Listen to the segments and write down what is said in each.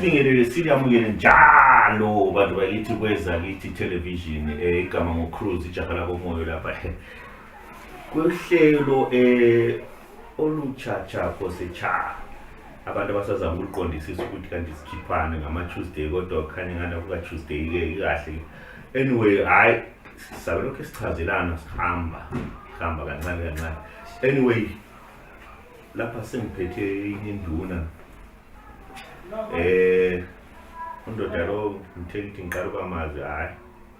sibingelele siliyamukele njalo bantu bakithi kweza kithi television eh, igama ngocruise ijaha lakomoyo lapha kuhlelo eh olutshatsha kose cha abantu abasazama ukuliqondisisa ukuthi kanti sikhiphane ngama-tuesday kodwa kukhanye ngana kuka-tuesday ke ikahle anyway hhayi sabe lokhu sichazelana sihamba sihamba kancane kancane anyway lapha sengiphethe inye induna um eh, undoda lo ngithe ngithi ngiqala uba mazi hhayi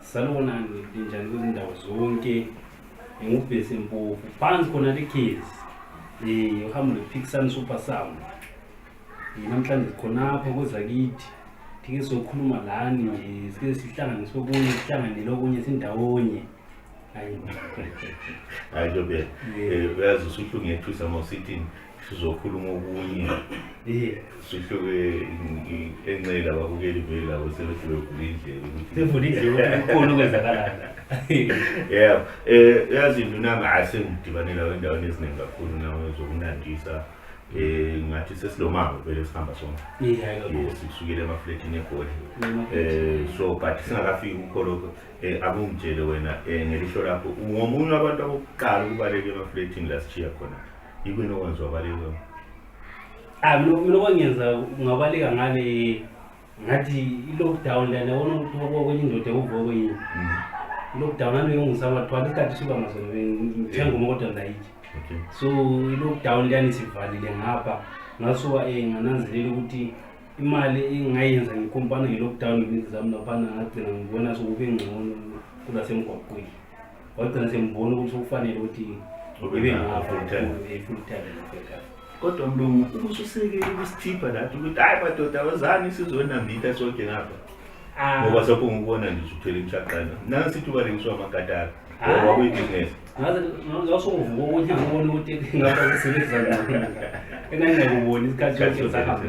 Salona nginjani kwizindawo zonke ngingubhesi mpofu phansi khona likhizi um eh, uhambo lwephikisani super sound eh, namhlanje sikhonapha kozakithi thike sokhuluma lani nje sike sihlangane sokunye sihlanganele okunye sindawonye hayi hayi ntobe eh, uyazi usuhlungethusa mawusithini sizokhuluma okunye sihluke enxela babukeli vele labo sebese bevula indlela ukuthi sivula indlela kukhona okwenzakalayo yeah eh yazi ndunami asengidibanela endaweni eziningi kakhulu nawe zokunandisa eh ngathi sesilomango vele sihamba sonke yes sikusukile emafletini egoli eh so but singakafiki kukho lokho eh akungitshele wena eh ngelihlo lakho ngomunye abantu abokuqala ukubaleka emafletini la sichiya khona Yikuyini okwenza wabaleka? Ah, mina mina okwangenza ngabaleka ngale ngathi i-lockdown lana wona ukuthi kwenye indoda ekuvuka kwenye. Mm. I-lockdown nami ngisaba thwala isikhathi siba ngaso ngithenga uma kodwa ngayiki. Okay. So i-lockdown lana isivalile ngapha ngasuka eh ngananzelela ukuthi imali engayenza ngikompana nge-lockdown ngezinto zami laphana ngagcina ngibona sokube ngcono kulasemgwaqweni. wagcina sengibona ukuthi kufanele ukuthi ibe ngifull time ngibhekana kodwa mlungu ukuthi usekele kusithipha lathi ukuthi hayi madoda awazani sizonambitha sonke ngapha ah. ngoba sokho ngikubona nje usuthwele imshaqana nami sithi ubalekiswa amakataka ngoba ah. kuyibhizinesi ngazosongovuka ukuthi ngibone ukuthi ngaba ngisebenzisa ngani engangingakuboni isikhathi sokuthi sahambe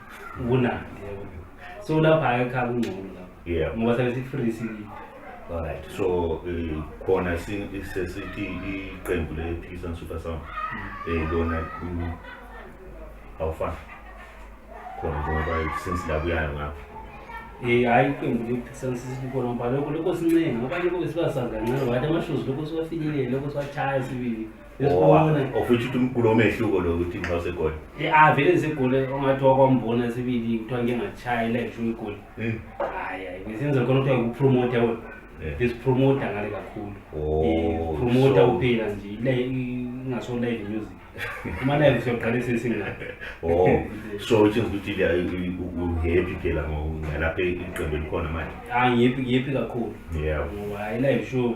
kunandi yabo so lapha ayekhaya kungcono lapha Yeah. ngoba sabe si-free sikile Alright. So eh, khona si- sesithi iqembu le Peace and Super Sound eh lona mm, awufani. Khona ngoba since la kuyayo ngapha. Eh hayi iqembu lisansisikona ngoba lokho lokho sincenga abanye boke sibasazi kancane wathi amashozi lokho siwafinyelele lokho siwachaya sibili Yesibone. of which uthi umgulo omehluko lo ukuthi nxa usegoli Ah vele ngisigule ongathi wakwambona sibili kuthiwa ngike ngashaya ileksho uyigule. Mm. Hayi hayi ngisenze khona kuthiwa ukupromote we. Yeah. Ngisipromote ngale kakhulu. Oh, Promote so- uphila nje ile ingaso live music. Uma live siyoqalisa isinga. oh so which is ukuthi liya- u- u- uhappy phela ngo- ngalapha iqembu elikhona manje Ah ngiyephi ngiyephi kakhulu. yeah Ngoba hayi live show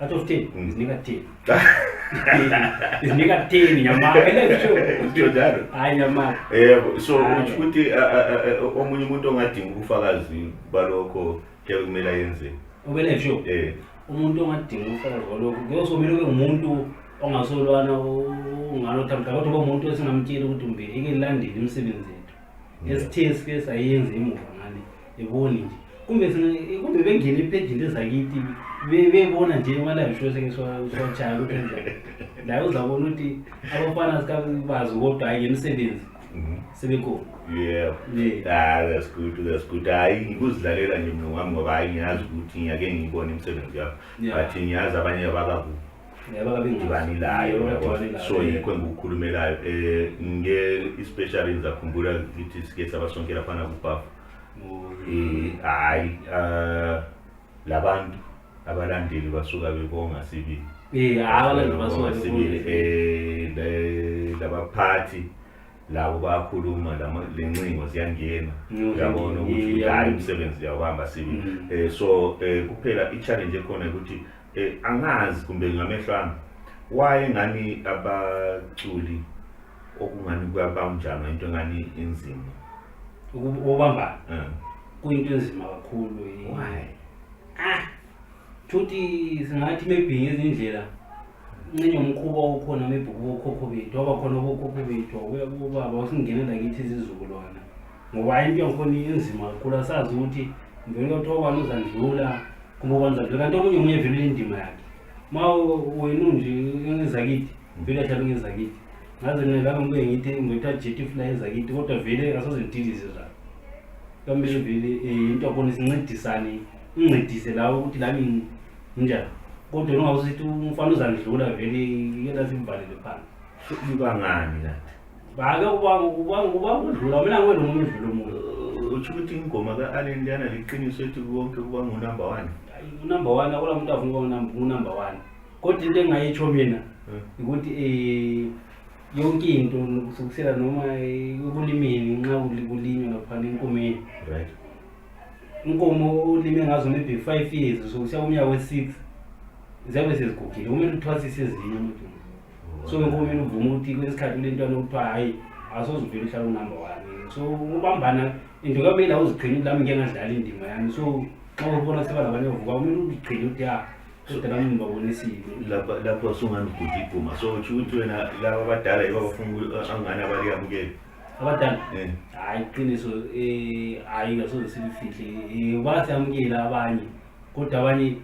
Out of 10, mm. zinika 10. Zinika 10 nyama. Ndio njalo. Hayi nyama. Eh so uthi ukuthi omunye umuntu ongadinga ubufakazi balokho ke kumele ayenze. Ubele sho. Eh. Umuntu ongadinga ubufakazi balokho kuyosomela ube umuntu ongasolwana ungalothi mhlawumbe kodwa ube umuntu esingamtshela ukuthi umbe ike landele imisebenzi yethu. Esithe sike sayenza emuva. yeboni nje kumbe kumbe bengene ephendini ezakithi bebona nje imalayo shose ke sochaya ukuthi njani la uzabona ukuthi abafana sikabazi kodwa hayi ngemisebenzi mhm. sebekhona yeah ah that's good that's good hayi ngikuzidlalela nje mina ngami ngoba hayi ngiyazi ukuthi ngiyake ngiyibone imisebenzi yakho but ngiyazi abanye abakakubi ngibanilayo so yikho engikukhulumelayo um eh, nge especially ngizakhumbula ngithi sike sabasonkela phana kubafu um eh, hhayi um eh, labantu abalandeli basuka bebonga sibili labaphathi labo bayakhuluma le ncingo ziyangena uyabona ukuthi hayi umsebenzi uyawuhamba sibili um so um kuphela i-challenge ekhona ukuthi Eh, angazi kumbe ngamehlo ami waye ngani abaculi okungani kuyabawunjalo into engani inzima ubamba um kuyinto enzima kakhulu why ah thuthi singathi mebhinge izindlela ncenye umkhuba okhona mebhuku bokhokho bethu abakhona bokhokho bethu ubaba usingenela kithi izizukulwana ngoba hayi into yangikhona inzima kakhulu asazi ukuthi ngivele kuyothiwa ubani uzandlula kumbe ubani uzandlula kanti omunye omunye vele indima yakhe ma wena unje engezakithi vele ahlala engezakithi ngaze mina laka ngibuye ngithi ngithatha jethi fula ezakithi kodwa vele asoze ngidilize zalo kamele vele eh, into yakhona sincedisane uncedise lawo ukuthi lami nginjani kodwa nongawusithi umfana uzandlula vele yena simvalele phansi ibangani kanti Bake ubanga ubanga ubanga udlula mina ngiwe nomunye udlula umuntu. Uthi ukuthi ingoma ka Allen liyana liqiniso ethi konke kuba ngu number 1. Unumber 1 akula muntu avuka unumber 1. Kodwa into engayitsho mina hmm. ukuthi eh yonke into kusukisela noma ekulimeni nxa kulinywa lapha nenkomeni. Right. Inkomo ulime ngazo maybe 5 years so kusiya kumnyaka we6 ziyabe sezigugile kumele uthwasise ezinye umuntu. so lokho mina uvuma ukuthi kwesinye isikhathi kule ntwana okuthiwa hhayi asozivele uhlala unumber one so ubambana into kamele awuzigcini lami ngike ngadlala indima yami so xa ubona seba labanye ovuka kumele uzigcine ukuthi ya kodwa nami ngibabonisile lapha lapho sungangigudla iguma so utsho ukuthi wena laba abadala yibo abafuna ukuthi angane abaliyamukele abadala Eh. hhayi iqiniso um hhayi ngasoze silifihle um basamukela abanye kodwa abanye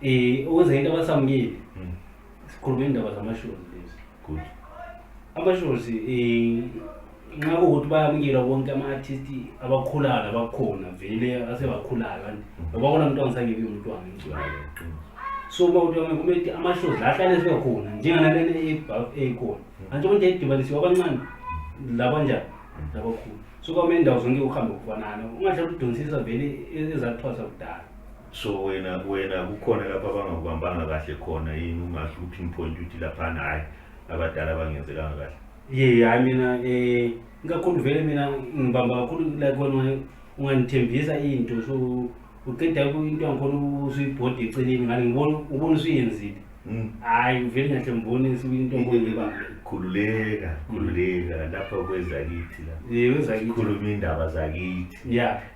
um okwenza into abasamukeli Mm. Sikhuluma indaba zamashozi lezi. Good. Amashozi eh nxa ukuthi bayamukelwa bonke ama-artist abakhulayo nabakhona vele asebakhulayo kanti ngoba kona mntwana sangebi umntwana ngiculayo so uma kuthi kumele ukuthi amashozi la ahlale sebekhona njenganalena eyikhona antsho konje edibanisiwe abancane labanjani labakhulu so kwamele indawo zonke uhambe kufanana ungahlala udonsisa vele ezathwasa kudala so wena wena kukhona lapho abangakubambanga kahle khona yini ungasho ukuthi ngiphoyinta ukuthi laphana hhayi abadala abangenzelanga kahle ye hhayi mina um ikakhulu vele mina ngibamba kakhulu like wena ungangithembisa into so uqeda into yangikhona usuyibhodi eceleni ngani ngibona ubona usuyenzile hmm. hhayi vele ngahle ngibone into ngiba khululeka khululeka lapha kwezakithi la kwezakithi khuluma iy'ndaba zakithi ya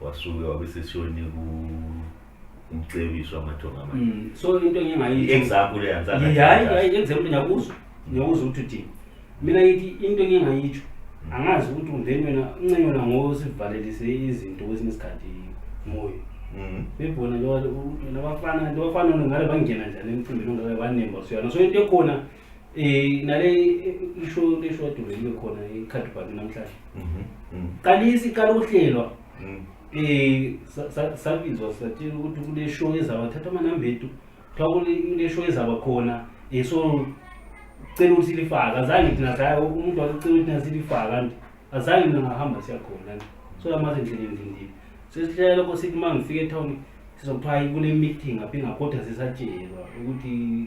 wasuke wabe seshoni ku umcebiso amathonga manje Mm, so into engingayi i-example eyanzana hayi hayi example ngiyakuzwa ngiyakuzwa ukuthi uthini mina ngithi into engingayitsho angazi ukuthi ungeni wena uncenyona ngosivalelise izinto kwesinye isikhathi moyo Mm. bebona nabafana nabafana ngale bangena njani emcimbini ongaka banemba siyona so into ekhona Eh nale isho lesho dole libe khona ikhadi bhathi namhlanje. Mhm. mhm. Qalisa iqala ukuhlelwa. Mm. Eh sa- sa- sabizwa sathini ukuthi kule show ezaba thatha amanamba ethu. Kuthiwa kule kule show ezaba khona eh so cela ukuthi lifaka azange thina saya umuntu wasicela ukuthi nasilifaka nje. Azange mina ngahamba siyakhona nje. So amaze endleleni ngindile. Sesihlela lokho sithi mangifike etown sizokuthiwa hayi kune meeting aphinga kodwa sisatshelwa ukuthi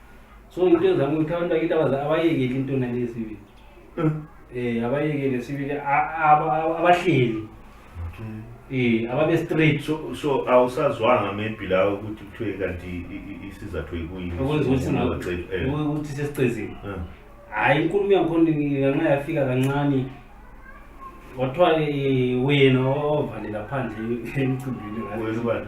so into ezama ukuthi abantu bakithi abayekeli into nalesibili um eh, abayekele sibili abahleli Eh ababe straight so so awusazwanga maybe la ukuthi kuthiwe kanti isizathu ekuyini ukuthi sesicezile. Eh. Hayi inkulumo yakhona ngenxa yafika kancane wathiwa eh, wena ovalela phandle emcimbini wena ubani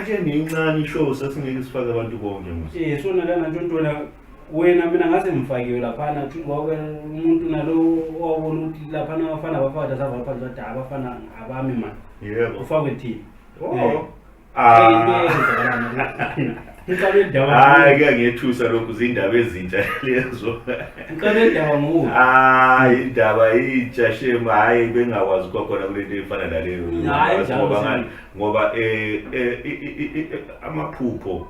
Ake nincane ishow sasingeke sifake abantu bonke mos. Eh sona lana ntontwana wena mina ngase ngifakiwe laphana kuthi ngoba umuntu nalo owabona ukuthi laphana abafana abafana sabafana badala abafana abami manje. Yebo. Ufakwe thina. Oh. Eh. Ah. Ngiqale indawo. Hayi kuyangethusa lokhu zindaba ezintsha lezo. Ngiqale indawo ngoku. Hayi indaba intsha shema hayi bengakwazi kwakhona kulento efana naleyo. Hayi njalo. ngoba eh, eh, i- i- i- i- amaphupho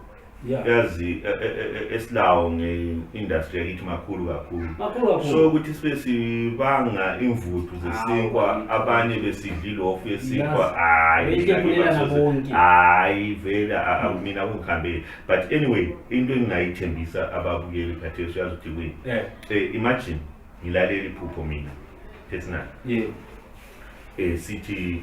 Yeah. yazi eh, eh, eh, esilawo nge-industry yakithi makhulu kakhulu Makhulu kakhulu. so ukuthi sibe sibanga imvuthu zesinkwa Hawu. abanye besidla ilofu yesinkwa Yazi. hayi Beyidle ngake kulela basoze- nabonke. hayi vele a- a- mina akungihambeli but anyway into engingayithembisa ababukeli khathesi uyazi ukuthi kuyini Eh, Eh, imagine ngilalela iphupho mina personal yeah. eh sithi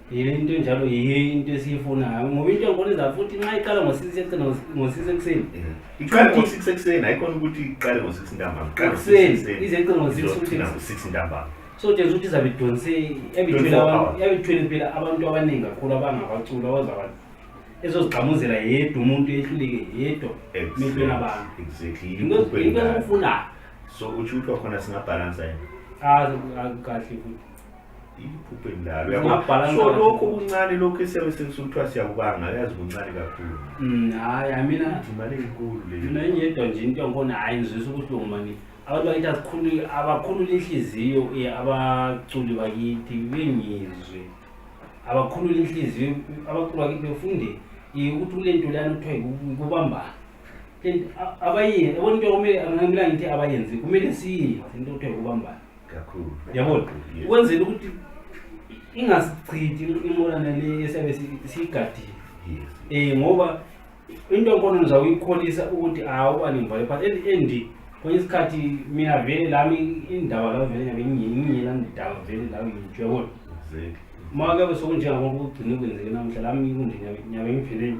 yile into enjalo yiyo into esiyifunayo ngoba into ngibona iza futhi nxa iqala ngo-six ekuseni ngo-six ekuseni iqale ngo-six ekuseni ayikhona ukuthi iqale ngo-six ntambama ekuseni ize iqe ngo-six futhi ngo-six ntambama so tshenzisa ukuthi izabe idonse yabithwele phela abantu abaningi kakhulu abangabaculi abazabantu ezozigxamuzela yedwa umuntu ehluleke yedwa mehlweni abantu into ezikufunayo so utsho ukuthi wakhona singabhalansa yena ah, ah, kahle futhi iphuphe endalo yabo Ungabhala so ngani? lokho kuncane lokho esiyabe sekusuthiwa siyakubanga yazi kuncane kakhulu Mm, hayi hayi mina Ithi imali enkulu le mina engiyedwa nje into yakhona hhayi ngizwisa ubuhlungu mani abantu bakithi azikhululi abakhulula inhliziyo eh, abaculi bakithi bengizwe abakhulula inhliziyo abaculi bakithi befunde eh, ukuthi kule nto leyana kuthiwa yiku- kubambana Le nto- a- abayenzi yabona into kumele angamela ngithi abayenzi kumele siyenze into kuthiwa yikubambana kakhulu yabona ukwenzela ukuthi ingasichithi imolana le esiyabe siyigadile um ngoba into enkono ngizawuyikholisa ukuthi awuba nemvayo but at the end kwenye isikhathi mina vele lami indaba lawo vele ngabe ngiyela ndidaba vele lawo ngitsho yabona uma kabe sokunjengangoba kugcine kwenzeke namuhla lami kunje nyabe ngipheleni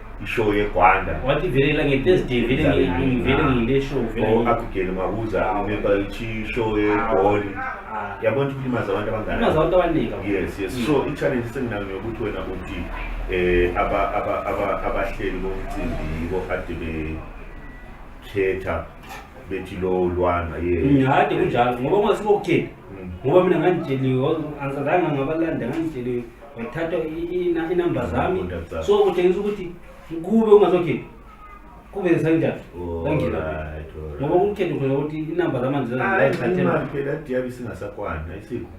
ishow yegwanda wathi velela ngetesday vele ngi- vele ngiyile show vele or ngi- abigele mabuza remember ichi show yegoli Ah. yabona ukuthi kulimaza abantu Kulimaza abangana abantu abaningi kakhulu. yes yes Mm. so i-challenge senginayo yokuthi wena uthi eh aba- aba- aba- abahleli bomcimbi yibo kade bekhetha bethi lo lwana ye ngihade kunjalo ngoba ungasibokuthe Mm. ngoba mina ngangitsheliwe angizange ngabalanda ngangitsheliwe wathatha inamba zami so kutshengisa ukuthi kube ungazokhipha kube ngisanjani angena ngoba ukukhetha khona ukuthi inamba zamanje zaziathelaimali singasakwani ayisiko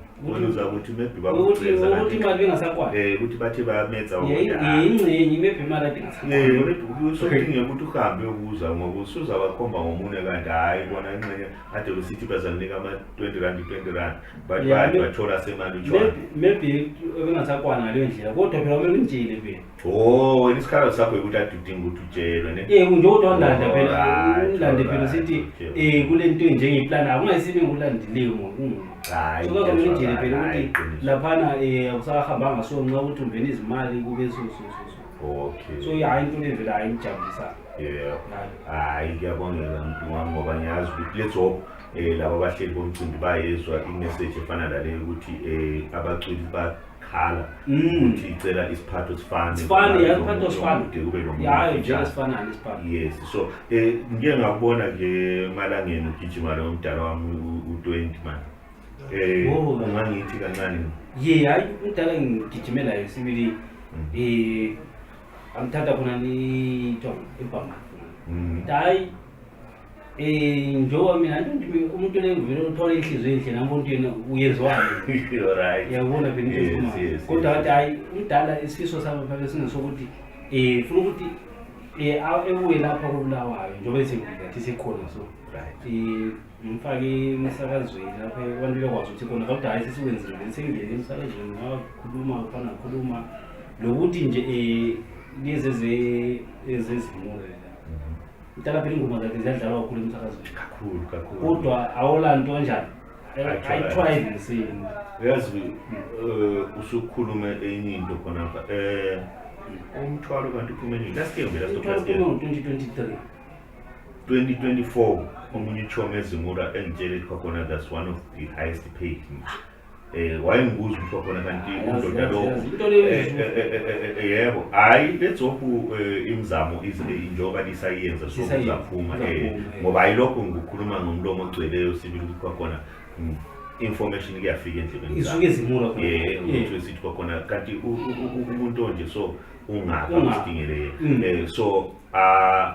uza ukuthi maybe bakuthi imali bengasakwani eh ukuthi bathi bayametsa yingcenye maybe imali ade ngasakwani usodinge ukuthi uhambe uyobuza ngoba usuza wakhomba ngomunye kanti hhayi bona inxenye ade besithi bazakunika ama-20 rand 20 rand but Yeah, bathi me- bathola semali utshwala Maybe- maybe ebengasakwana ngaleyo ndlela kodwa phela kumele ngimtshele phela o wena isikhalo sakho yikuthi ade udinga ukuthi utshelwe ne Eh nje kodwa ngilanda phela Alright, ngilande phela alright, sithi okay. eh kule nto njenge plan akungayisibe ngilandile ngokungu Hhayi, so kodwa ngiyajwayela, ngidile phela hhayi, ukuthi qiniso. laphana eh awusahambanga so nxa ukuthi ungena izimali kube so so so so okay so hayi into le vele hayi ngijabulisa yeah hayi hayi kuyabongeka mntu wami ngoba ngiyazi ukuthi let's hope eh laba bahleli bomcimbi bayezwa imessage efana naleyo ukuthi eh abaculi bakhala Mm. ukuthi icela isiphatho sifane Sifane, ya, isiphatho sifane. Kude kube nomuntu Yayo nje ofitshane. esifanani isiphatho. yes so eh ngike ngakubona ke malangeni ugijima lo mdala wami u- u20 man eh Oh. ungangithi kancane Ye hayi umdala ngigijimela esibili Mm. eh angithatha khona ni to ibhanga. Mhm. Hayi um njengoba mina umuntu lengivele uthole inhliziyo enhle nami umuntu yena uyezwani yabona kodwa wathi hhayi umdala isifiso sami phake singesokuthi um funa ukuthi um ebuye lapha kobulawayo njengoba esengilathi sikhona so um ngimfake emsakazweni lapha abantu bekwazi ukuthi khona kodwa hhayi sesikwenzile vele sengingene emsakazweni ngakhuluma fana khuluma lokuthi nje um lezi ezezimule Mtala phela ingoma zakhe ziyadlalwa kakhulu emsakazweni. Kakhulu kakhulu. Kodwa awula nto enjani? Ayithwaye nesini. Uyazi eh, usukhulume enye into khona apha. Eh umthwalo kanti uphume nini? Last year ngempela stop last year. 2023. 2024 omunye uchomi ezimura engitshele khona that's one of the highest paid. Eh wayengibuza umfo khona kanti undoda lo yebo hayi lezophu imizamo injoba lisayenza so kuzaphuma eh ngoba ayilokho ngikhuluma ngomlomo ogcweleyo sibili ukuthi kwakhona information kuyafika endlebeni isuke izimula eh ukuthi sithi kwakhona kanti umuntu onje so ungaka usidingele eh so ah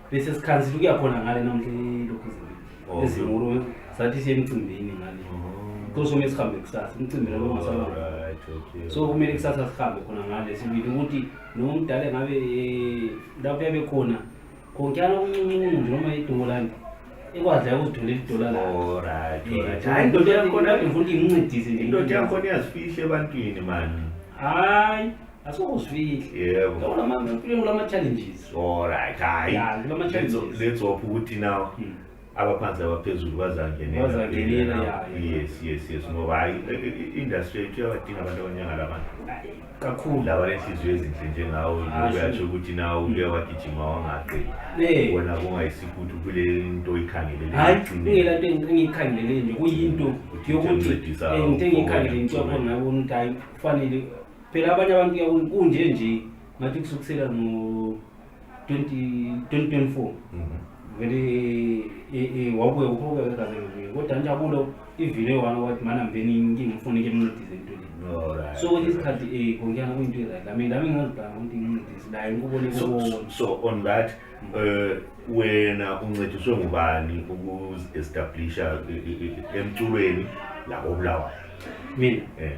bese sikhansile ukuya khona ngale namhla ilokhu Oh, ezingolo sathi siye emcimbini ngale oh. kusho uma sihambe kusasa umcimbi labo ungasaba Alright, okay. so kumele kusasa sihambe khona ngale sibili ukuthi noma umdala engabe eh, lapho yabe khona khonkana kuncuncuncu nje noma idola nje ekwazi la ukuzitholela idola lakho Alright, Eh, alright. Hayi, indoda yakhona ngifuna ukuthi ngincedise nje indoda yakhona iyazifihle ebantwini mani hayi asokuzwile yebo Yabo lama ngifike kulama challenges all right hayi Yeah, kulama let's challenges. let's hope ukuthi now Mm. abaphansi abaphezulu bazangenela Bazangenela, yeah, yeah. yes yes yes ngoba hayi i- i- industry yethu iyabadinga abantu abanyanga labantu Ay, kakhulu laba lenhliziyo ezinhle njengawo Ah, uyasho sure. ukuthi nawe ubuye wagijima wangaqeli Eh. wona kungayisikho ukuthi ubule into oyikhangelele hayi ekugcineni. kungela nto engi- engiyikhangelele nje kuyinto Ukuthi yokuthi uncedisa eh, into engiyikhangelele into uphumele. yakhona ngabona ukuthi hayi kufanele Phela abanye abantu yabona kunje nje ngathi kusukusela ngo 2024 mhm. vele e, e, wabuye ukhokhe kaze ngibuye kodwa njabulo ivile wami wathi mana mbeni inkinga ngifuna ke mncedise into le so ukuthi isikhathi eh konjana kuyinto right lami lami ngazibhanga ukuthi ngincedise la ngikubone kubona so on that eh wena uncediswe ngubani ukuzi establisha e, emculweni la obulawayo mina eh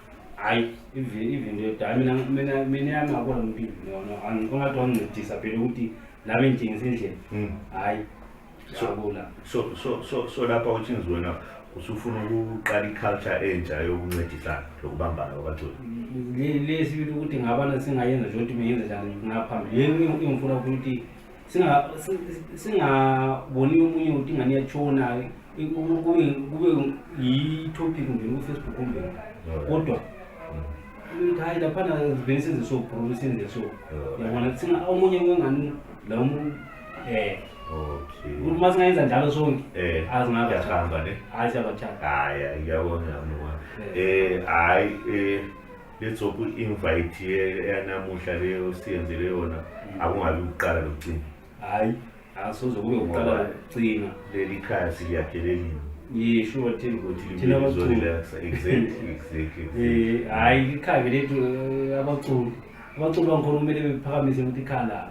hayi ivinto yodala mina mina mina yami ngabona umpilo yona ongathi wangincedisa phela ukuthi la bengithengisa indlela hmm. hayi ngiyabula so so so so lapha uthi ngizwena usufuna ukuqala i-culture entsha yokuncedisana lokubambana kwabaculi lesibili ukuthi ngabana singayenza nje ukuthi bengenze njani ngaphambili yini engifuna ukuthi singaboni omunye ukuthi ingane yatshona kube yi-topic nje kufacebook nje kodwa ukuthi hayi laphana zivele senze so bro senze so yabona thina omunye wengani la um okay ukuthi uma singayenza njalo sonke eh azingabe yahamba ne hayi siyabathanda hayi ngiyabona mama eh hayi eh let's hope i-invite yanamuhla leyo siyenzele yona mm. akungabi ukuqala lokucina hayi asoze kube ukuqala lokucina leli khaya siliyakhe lelini yisho ukuthi thina abaculi eh, hayi ikhaya lethu eh, abaculi abaculi bangikhona kumele bephakamise ukuthi ikhala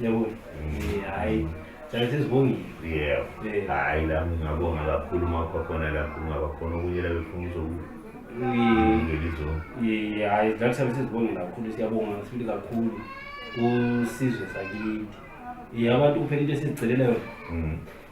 yabo Eh, hhayi sale sesibongile yebo Eh. hhayi la ngingabonga kakhulu uma kwakhona la kungaba khona okunye la befuna uzoku- Eh, ngelizonke eh, hhayi la sale sesibongile kakhulu siyabonga sibili kakhulu kusizwe sakithi Eh, abantu kuphela into esizicelela yona Mm.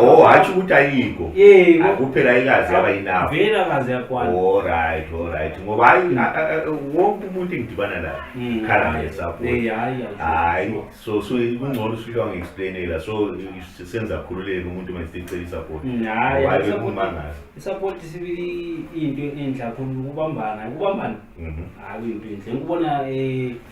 oh hatsho ukuthi ayikho akuphela ayikazi yaba yinabo oh right oh right ngoba hayi wonke umuntu engidibana naye hmm. khala ngesapo hayi so so kungcono usuywa ngi-explainela so senza khululeke umuntu uma sicela isapoti hmm, hayi kumangala isapoti sibili into enhle kakhulu ukubambana ukubambana mhm. hayi into enhle ngikubona um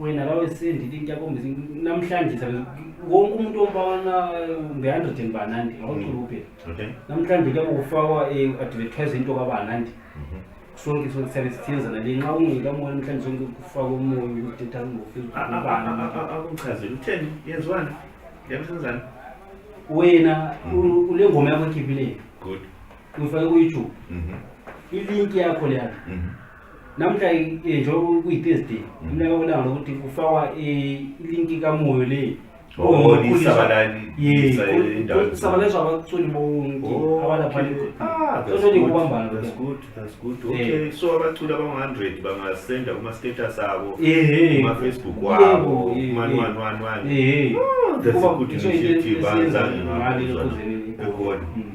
wena bawesendi into yakhombisa namhlanje wonke umuntu ombana nge-hundred and banandi awuculuke mm. namhlanje kuyabe kufakwa i-advertise into kabanandi mhm. sonke sonke siyabe sithenzana le nxa ungekamona namhlanje sonke kufakwa umoya ukuthi thatha ngofeakuchazela utheni yenziwani yabisenzani wena mhm. ule ngoma yakho ekhiphileni uyifake ku-youtube mhm. ilinki yakho leyana Namuhla njengoba kuyi-Thursday, umnyaka welanga lokuthi kufakwa ilinki kamoyo le. Sabalazwa abaculi bonke abalapha sosoni kubambana so abaculi abangu-hundred bangasenda kuma-status abo kuma-facebook wabo kumanwanwanwan that's a good initiative anzange ngabona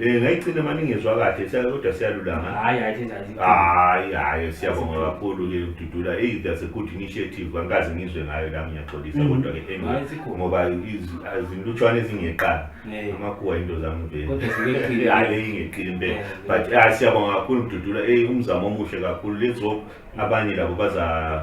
Eh ngayicina manje ngizwa kahle siyake kodwa siyalulama. Hayi hayi thenza nje. Hayi hayi siyabonga kakhulu ke ududula. Hey that's a good initiative. Angikaze ngizwe ngayo la ngiyaxolisa Mhm. kodwa ke Hayi anyway sikhona. ngoba izi- azilutshwane ezingeqala. Eh. Amakuwa into zami vele. Kodwa zingeqile. Hayi le ingeqile impela. Eh, But ah siyabonga kakhulu ududula. Hey umzamo omuhle kakhulu. Let's hope abanye labo baza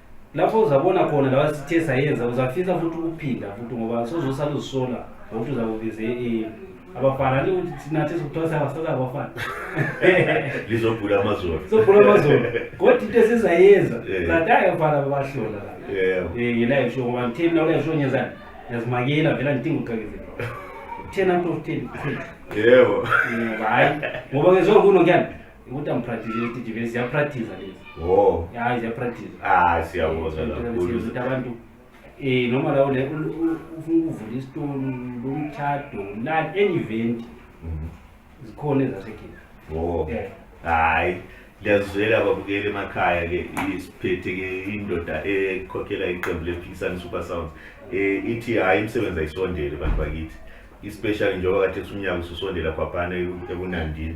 lapho uzabona khona lawa sithe sayenza uzafisa futhi ukuphinda futhi ngoba sozosala uzisola ngokuthi uzakubize ini abafana ni ukuthi thina thi sikuthiwa siyabasala abafana lizobhula amazolo sobhula amazolo kodwa into esizayenza Eh. ladayo abafana babahlola la yebo Eh, ngila ngisho ngoba ngitheni mina kule ngisho ngenzani ngiyazimakela vela ngidinga ukuqakezela kutheni anto kutheni kutheni yebo ngoba hayi ngoba ngezwa kuno kuyani Ukuthi angipractice leti TV ziyapractice lezi. Oh. Hayi ziyapractice. Ah siyabonga kakhulu. Ukuthi abantu eh noma la ule ufuna ukuvula isitolo lomtshado la any event mhm. zikhona ezasekhaya. Oh. Yeah. Hayi. Ngiyazizwela babukeli emakhaya ke isiphethe ke indoda ekhokhela iqembu lePhikisani Super Sounds. Eh ithi hayi imisebenzi ayisondele bantu bakithi. Especially njengoba kade sunyaka ususondela kwaphana ekunandini.